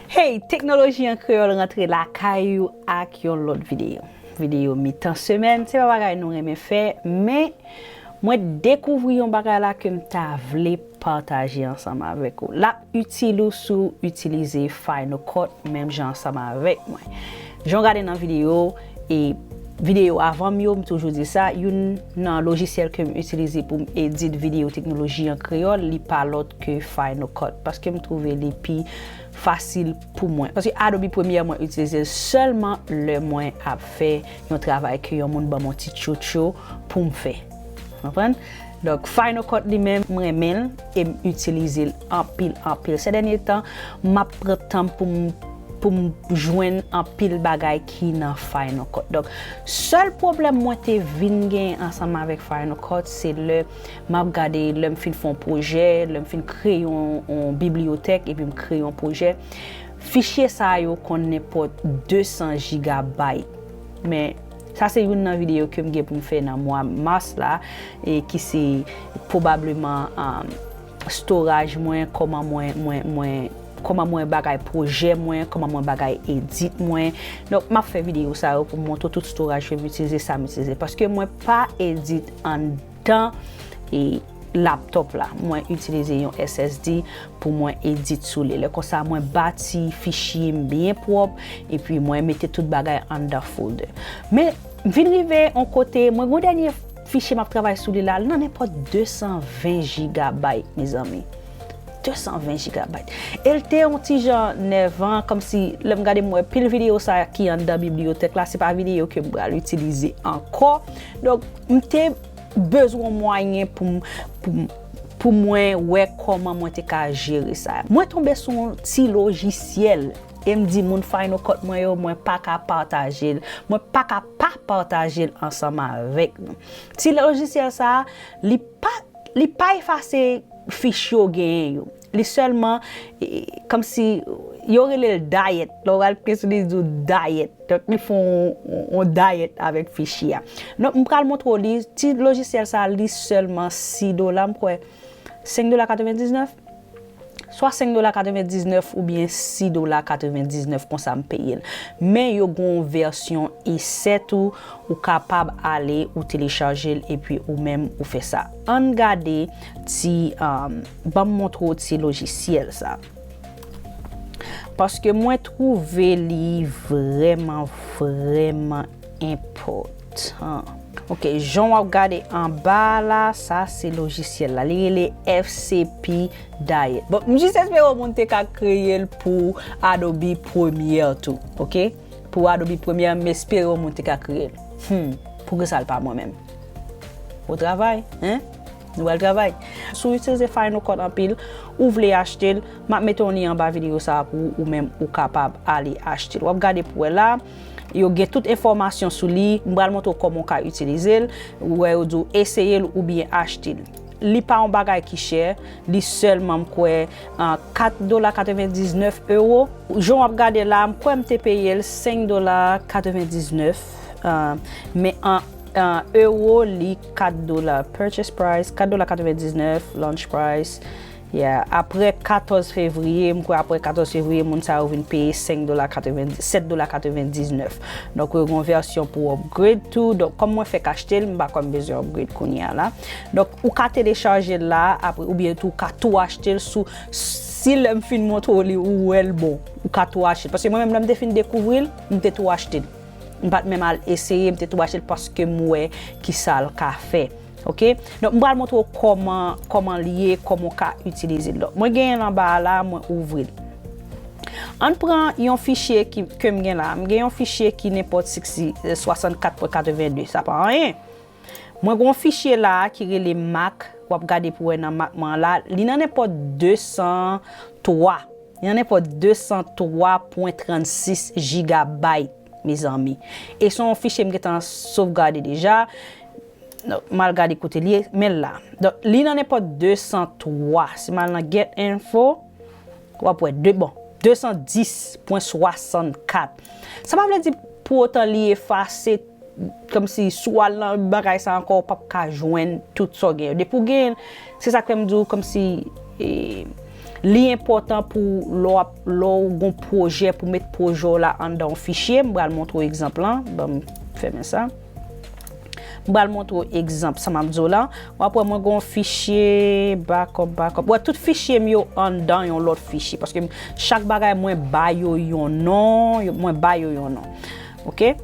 Hey, Teknoloji an Kreyòl rantre lakay ou ak yon lòt videyo. Videyo mitan semèn, se pa bagay nou renmen fè, men mwen dekouvri yon bagay la ke m ta vle pataje ansanm avèk ou. Lap itil ou si w itilize Final Cut menm jan ansanm avèk mwen. Jan w gade nan videyo e videyo avan m yo, m toujou di sa, youn nan lojisyèl ke m itilize pou m edit videyo teknoloji an kreyòl, li pa lòt ke Final Cut. Paske m twouve li pi fasil pou mwen. Paske Adobe Premiere mwen itilize l sèlman lè mwen ap fè yon travay ke yon moun ban m yon ti tchotcho pou m fè. Konprann? Donk final cut li menm m renmen l e m itilize l anpil anpil sè dènye tan m ap pran tan m pou m pou m jwenn anpil bagay ki nan final cut donk sèl pwoblèm mwen te vin gen ansanm avèk final cut se lè m ap gade lè m fin fè yon pwojè lè m fin kreye yon bibliyotèk epi m kreye yon pwojè fichye sa yo konn nenpòt 200 gigabyte men Sa se youn nan videyo ke m gen pou m fè nan mwa Mars la, e ki se pwobableman storaj mwen, kòman mwen, kòman mwen bagay pwojè mwen, kòman mwen bagay edit mwen. Donk m ap fè videyo sa yo pou m montre w tout storaj ke m itilize, sa m itilize. Paske mwen pa edit an. Tan e laptop la mwen itilize yon SSD pou mwen edit sou li. Lè konsa mwen bati fichye m byen pwop epi mwen mete tout bagay anndan folder. Men m vin rive yon kote mwen gen yon dènye fichye map travay sou li la, li nan nenpot 220 gigabyte mezanmi. 220 gigabyte el te yon ti jan nèvan kòmsi lèm gade m wè pil video sa ki anndan bibliyotèk la se pa video kem pral itilize ankò donk m te bezwen yon mwayen poum poum pou mwen wè kòman mwen te ka jere sa mwen tonbe sou yon ti lojisyèl e m di moun final cut mwen yo mwen pa ka pataje l mwen pa ka pa pataje l ansanm avèk nou ti lojisyèl sa li pa Li pa efase fich yo genyen yo. Li sèlman, kòm si, yo rele l dayèt. Lè w al klike sou li, li di w dayèt. Donk li fè yon dayèt avèk fichi a. Donk m pral montre w li. Ti lojisyèl sa a li sèlman 6 dola m kwè. 5 dola 99. swa 5 dola 99 oubyen 6 dola 99 konsa m peye l men yo gen yon vèsyon esè tou ou kapab ale ou telechaje l epi ou menm ou fè sa ann gade ti ban m montre w ti lojisyèl sa paske mwen twouve li vrèman vrèman enpòtan ok jan wap gade anba a la sa se lojisyèl la li rele FCP Diet bon m jis espere yon moun te ka kreye l pou Adobe Premiere tou ok pou Adobe Premiere m espere yon moun te ka kreye l humm poukisa l pa mwen menm bon travay hein nou bal travay si w itilize Final Cut anpil ou vle achte l map mete yon lyen anba videyo sa a pou ou menm ou kapab ale achte l wap gade pou wè la. Yo gen tout enfòmasyon sou li. M pral montre w kòman w ka itilize l. Ou wè yo di w eseye l oubyen achte l. Li pa yon bagay ki chè. Li sèlman m kwè 4 dola 99 ewo. Jan w ap gade la, m kwè m te peye l 5 dola 99. Men an ewo li 4 dola. Purchase price 4 dola 99, launch price. Yeah aprè 14 fevriye m kwè aprè 14 fevriye moun sa yo vin peye 5 dola 90 7 dola 99 donk yo gon vèsyon pou upgrade tou donk kòm mwen fèk achte l m pa kwè m bezwen upgrade kounye a la donk ou ka telechage l la apre oubyen tou ou ka tou achte l sou si lè m fin montre w li ou wè l bon ou ka tou achte l paske mwen menm lè m te fin dekouvri l m te tou achte l m pat menm al eseye m te tou achte l paske m wè kisa l ka fè. Ok donk m pral montre w kòman kòman l ye kòman w ka itilize l mwen genyen l anba a la mwen ouvri l an n pran yon fichye ke m gen la m gen yon fichye ki nenpòt si k si 64 pwen 82 sa pa anyen mwen gen yon fichye la a ki rele mak w ap gade pou wè nan mak mwen an la li nan nenpòt 203 li nan nenpòt 203 pwen 36 jigabayt mezanmi e s on fichye m gen tan sovgade deja M al gade kote l ye. Men l la. Donk, li nan nenpòt 203. Si m al nan Get Info, w ap wè. Bon, 210 pwen 64. Sa pa vle di pou otan li efase, kòmsi si w al nan bagay sa ankò ou p ap ka jwenn tout sa w gen yo. Depi w gen l, se sa k fè m di w kòmsi li enpòtan pou lè w ap, lè w gen yon pwojè pou w met pwojè w la anndan yon fichye. M pral montre w egzanp lan. Ban m fèmen sa. M pral montre w egzanp sa m ap di w la. W ap wè mwen gen yon fichye backup, backup. Wè tout fichye m yo anndan yon lòt fichye. Paske chak bagay mwen ba yo yon non. Mwen ba yo yon non. Ok.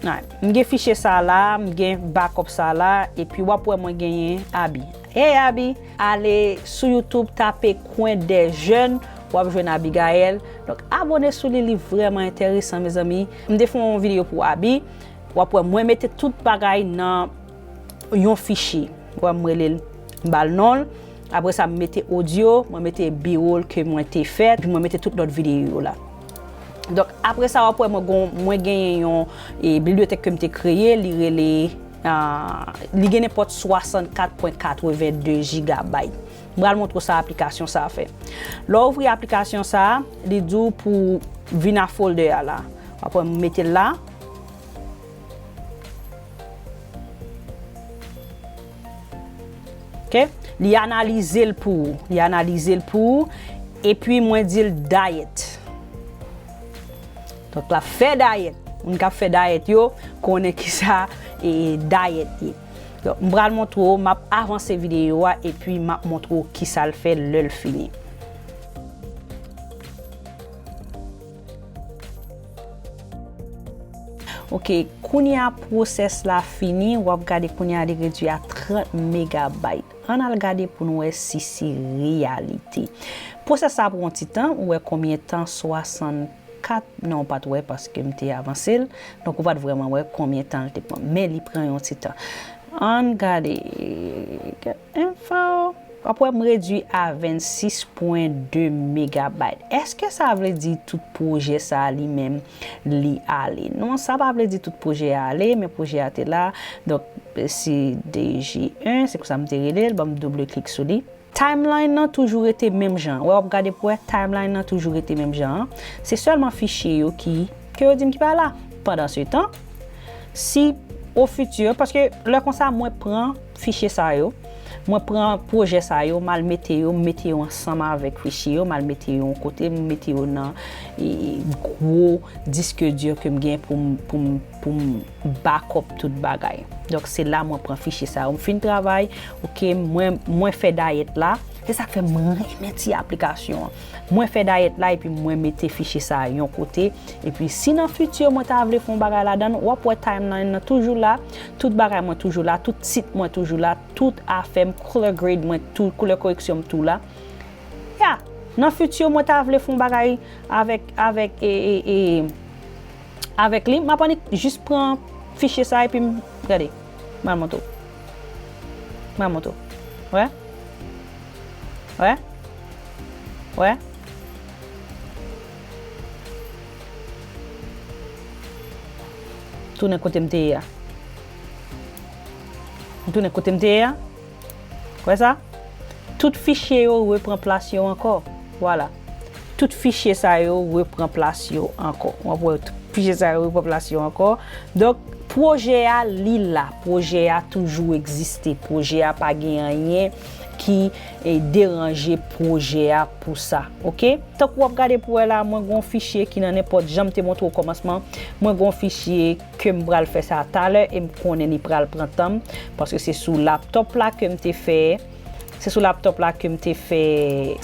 M gen fichye sa a la. M gen backup sa a la. E pi w ap wè mwen genyen Abi. Hey Abi! Ale sou YouTube tape Coin des jeunes. W ap jwenn Abigaelle. Donk abone sou li. Li vrèman enteresan mezanmi. M te fè yon video pou Abi. Wap wè mwen mete tout bagay nan yon fichye. Wè m rele l m ba l non l. Apre sa m mete audio, mwen mete biwo l ke mwen te fè epi mwen mete tout lòt videyo yo la. Donk apre sa wap wè mwen gon mwen genyen yon bibliyotèk ke m te kreye li rele li gen nenpòt 64.82 jigabayt. M pral montre w sa aplikasyon sa fè. Lè w ouvri aplikasyon sa, li di w pou vin a folder a la. W ap wè m mete l la. Ok. Li analize l pou ou. Li analize l pou ou. E pi mwen di l diet. Donk l ap fè diet. Moun k ap fè diet yo konnen ki sa diet ye. M pral montre w, m ap avanse videyo a epi m ap montre w kisa l fè lè l fini. Ok, kounye a pwosès la fini, w ap gade kounye a li redwi a 30 megabayt. Ann al gade pou n wè si se reyalite. Pwosès sa pran yon ti tan, ou wè konbyen tan 60. 4 nan ou pat wè paske m te avansel donk ou pat vrèman wè konbyen tan l te pran men li pran yon ti tan ann gade kèk enfo wap wè m redwi a 26 pwen 2 megabayt eske sa vle di tout pwojè sa li menm li ale non sa pa vle di tout pwojè a ale men pwojè a te la donk se dji 1 se konsa m te rele l banm double klik sou li. Timeline nan toujou rete menm jan an. Wè wap gade pou wè timeline nan toujou rete menm jan an. Se sèlman fichye yo ki ke yo dim ki pa la. Pandan se tan, si o futur, paske lè konsa mwen pran fichye sa yo, mwen pran pwojè sa yo, mal mete yo, mete yo ansanm avèk fichye yo, mal mete yo yon kote, mete yo nan gwo disque dur kem gen poum poum. pou m back up tout bagay donk se la mwen pran fichye sa yo m fin travay ok mwen mwen fè dayèt la se sak fè m renmen ti aplikasyon an mwen fè dayèt la epi mwen mete fichye sa yon kote epi si nan fiti mwen ta vle fon bagay ladan l wap wè timeline nan toujou la tout bagay mwen toujou la tout tit mwen toujou la tout afè m color grade mwen tou koulè koreksyon m tou la ya nan fiti mwen ta vle fon bagay avèk avèk e e e avèk li. M ap annik jis pran fichye sa epi m, gade, m al montre w. M al montre w. Wè? Wè? Wè? Tounen kote m te ye a. M tounen kote m te ye a. Wè sa? Tout fichye yo repran plas yo ankò. Vwala. Tout fichye sa yo repran plas yo ankò. W ap wè tout fichye sa yo repran plas yo ankò. Donk, pwojè a li la. Pwojè a toujou egziste. Pwojè a pa gen anyen ki deranje pwojè a pou sa. Oke? Tankou w ap gade pou wè la, mwen gen yon fichye ki nan nenpòt, jan m te montre w okòmansman, mwen gen yon fichye. ke m pral fè sa talè e m konnen li pral pran tan m paske se sou laptop la ke m te fè se sou laptop la ke m te fè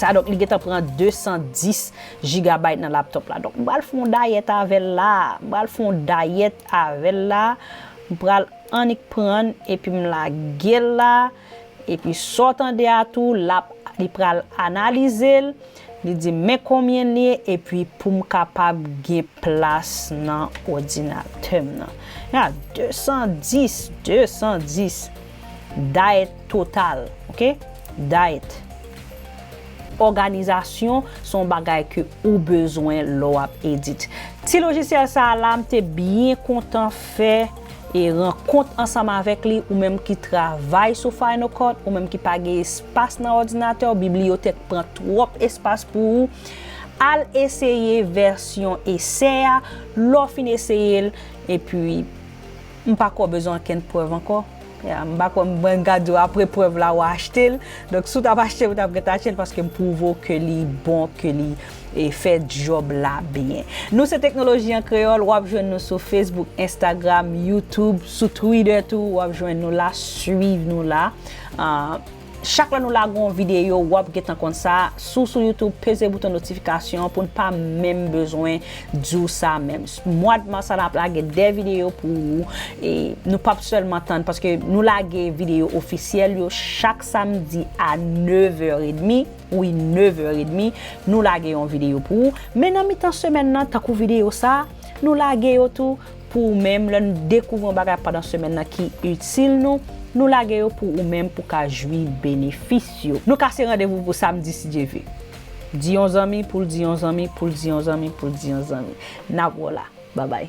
sa donk li gentan pran 210 gigabyte nan laptop la donk m pral fon dayèt avèl la m pral fon dayèt avèl la m pral annik prann epi m lagel la epi sa w tande a tou lap li pral analize l. Li di m men konbyen l ye epi pou m kapab gen plas nan odinatè m nan. Ya 210, 210 dayet total, ok, dayet. Òganizasyon se yon bagay ke ou bezwen lè w ap edit. Ti lojisyèl sa a la m te byen kontan fè. E rankont ansanm avèk li, ou menm ki travay sou Final Cut, ou menm ki pa gen espas nan òdinatè w, bibliyotèk pran twòp espas pou ou, al eseye vèsyon esè a, lè w fin eseye l, epi m pa kwè w bezwen ankenn prèv ankò, ya, m pa kwè m pral gade w apre prèv la ou achte l, donk si w t ap achte l ou t ap gentan achte l paske m pwouve w ke li bon, ke li. e fè djòb la byen. Nou se Teknoloji an Kreyòl, wap jwenn nou sou Facebook, Instagram, YouTube, sou Twitter tou wap jwenn nou la, swiv nou la. Chak lè nou lage yon videyo wap gentan konn sa, si w sou YouTube peze bouton notifikasyon pou n pa menm bezwen di w sa menm. Mwad mas la nap lage 2 videyo pou ou e nou pap sèlman tann paske nou lage videyo ofisyèl yo chak samdi a 9 è edmi. Wi 9 heures et demi nou lage yon video pou ou men nan mitan semèn nan tankou video sa nou lage yo tou pou ou menm lè nou dekouvri yon bagay pandan semèn nan ki itil nou nou lage yo pou ou menm pou ka jwi benefis yo. Nou kase randevou pou samdi si Dye ve. Di yon zanmi poul di yon zanmi poul di yon zanmi poul di yon zanmi. Nap wè w la. Babay.